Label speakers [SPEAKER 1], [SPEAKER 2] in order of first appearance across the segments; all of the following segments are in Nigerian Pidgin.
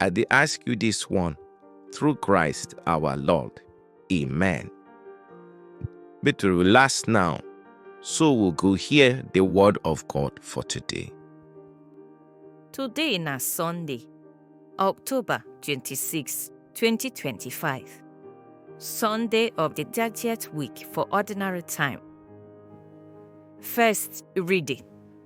[SPEAKER 1] I dey ask you this one through Christ our Lord. Amen. Make we relax now, so we go hear the word of God for today. Today
[SPEAKER 2] na Sunday, October 26, 2025. Sunday of the 30th week for ordinary time. First reading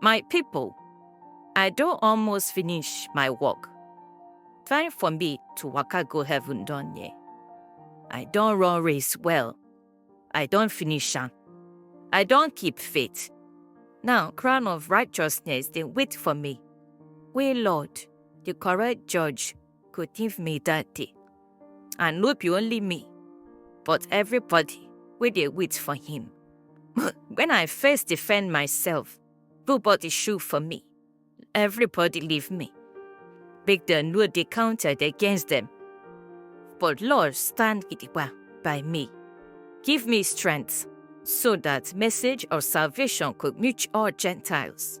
[SPEAKER 2] My people, I don almost finish my work. Time for me to waka go heaven don near. I don run race well. I don finish am. I don keep faith. Now crown of righteousness dey wait for me. Wey Lord, the correct judge, go give me that day. And no be only me, but everybody wey dey wait for him. when I first defend myself, nobody shoot for me. Everybody leave me. Make dem no dey counted against them. But Lord stand gidigba by me. Give me strength so that message of salvation could reach all Gentiles.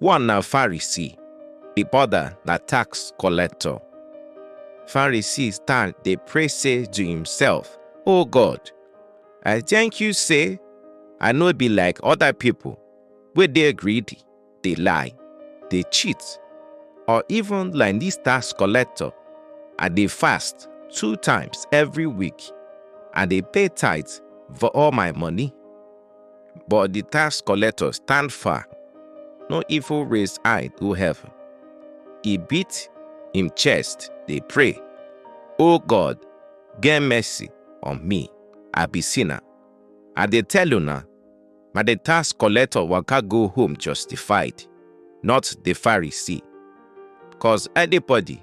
[SPEAKER 1] One na Pharisee, the other na tax collector. Pharisee stand dey pray say to himself, Oh God, I thank you say I no be like other people wey dey greedy, dey lie, dey cheat, or even like this tax collector. I dey fast two times every week and dey pay tithe for all my money. But the tax collector stand far, no even raise eye go heaven. He beat him chest, dey pray, O God, get mercy on me, I be sinner. I dey tell una, na the tax collector waka go home justified, not the Pharisee. Cause anybody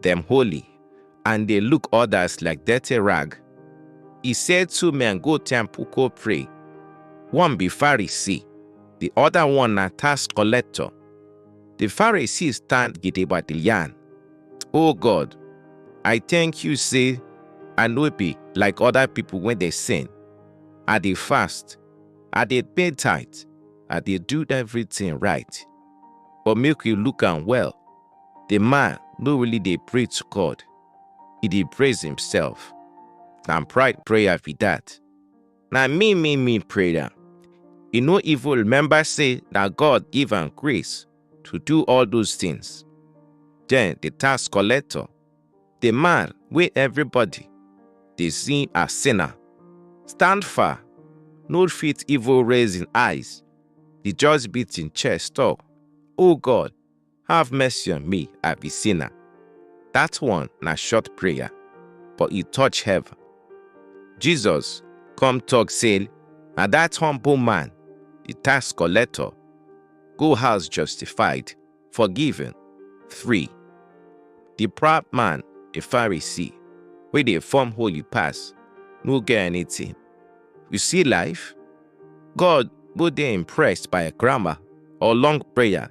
[SPEAKER 1] dem holy and dey look others like dirty rag. E say two men go temple go pray. One be Pharisee, the other one na tax collector. The Pharisee stand gidigba dey yarn, O God, I thank you say I no be like other people wey dey sin. I dey fast, I dey pay tithe, I dey do everything right. But make you look am well, the man no really dey pray to God, he dey praise himself. Na pride prayer be that. Na me, me, me prayer. He no even remember say na God give am grace to do all those things. Then the tax collector, the man wey everybody dey see as sinner, stand far, no fit even raise him eyes. He just beat him chest talk, Oh God, Have mercy on me, I be sinner. That one na short prayer, but e touch heaven. Jesus come talk say, na that humble man, the tax collector, go house justified, forgiven, free. The proud man, a Pharisee, wey dey form holy pass, no get anything. You see life? God no dey impressed by grammar or long prayer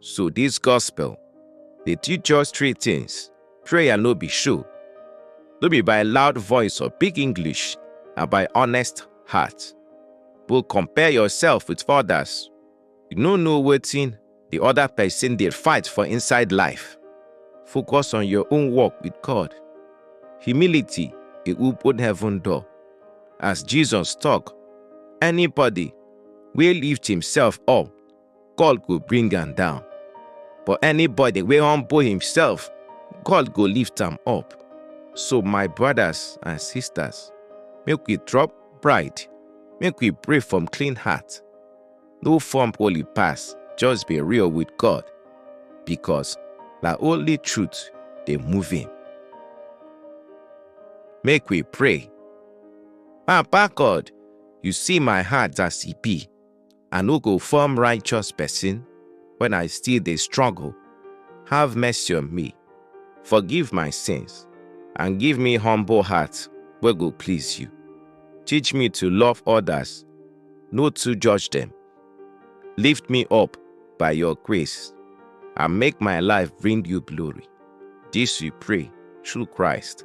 [SPEAKER 1] So this gospel dey teach us three things. Prayer no be show, no be by loud voice or big English, na by honest heart. Go compare yourself with others. You no know wetin the other person dey fight for inside life. Focus on your own work with God. Humility dey open heaven door. As Jesus talk, anybody wey lift himself up God go bring am down. But anybody wey humble himself, God go lift am up. So my brothers and sisters, make we drop pride, make we pray from clean heart. No form holy pass, just be real with God, because na only truth dey move him. Make we pray. Papa God, you see my heart as e be. I no go form righteous person when I still dey struggle. Have mercy on me, forgive my sins, and give me humble heart wey go please you. Teach me to love others, no too judge them. Lift me up by your grace and make my life bring you glory. This we pray through Christ.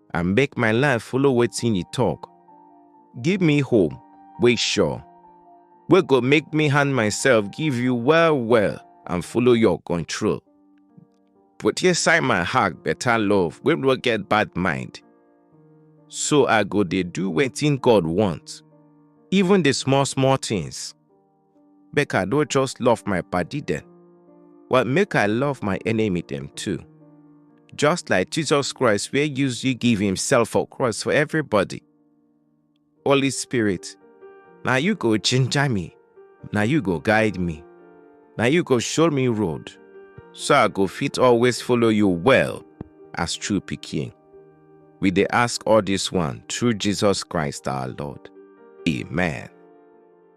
[SPEAKER 1] and make my life follow wetin you talk. Give me hope wey sure, wey go make me hand myself give you well well and follow your control. Put inside my heart better love wey no get bad mind. So I go dey do wetin God want, even the small small things. Make I no just love my body then, but make I love my enemy them too. Just like Jesus Christ wey use you give himself for cross for everybody. Holy Spirit, na you go ginger me, na you go guide me, na you go show me road, so I go fit always follow you well as true pikin. We dey ask all this one through Jesus Christ our Lord. Amen.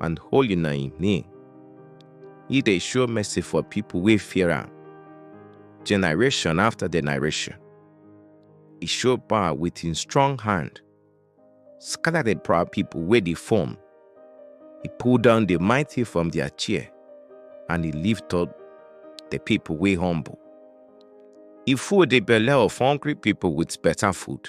[SPEAKER 1] and holy na im name. He dey show mercy for people wey fear am, generation after generation. He show power with him strong hand, scatter the proud people wey dey form. He pull down the mighty from their chair, and he lift up the people wey humble. He full the belle of hungry people with better food.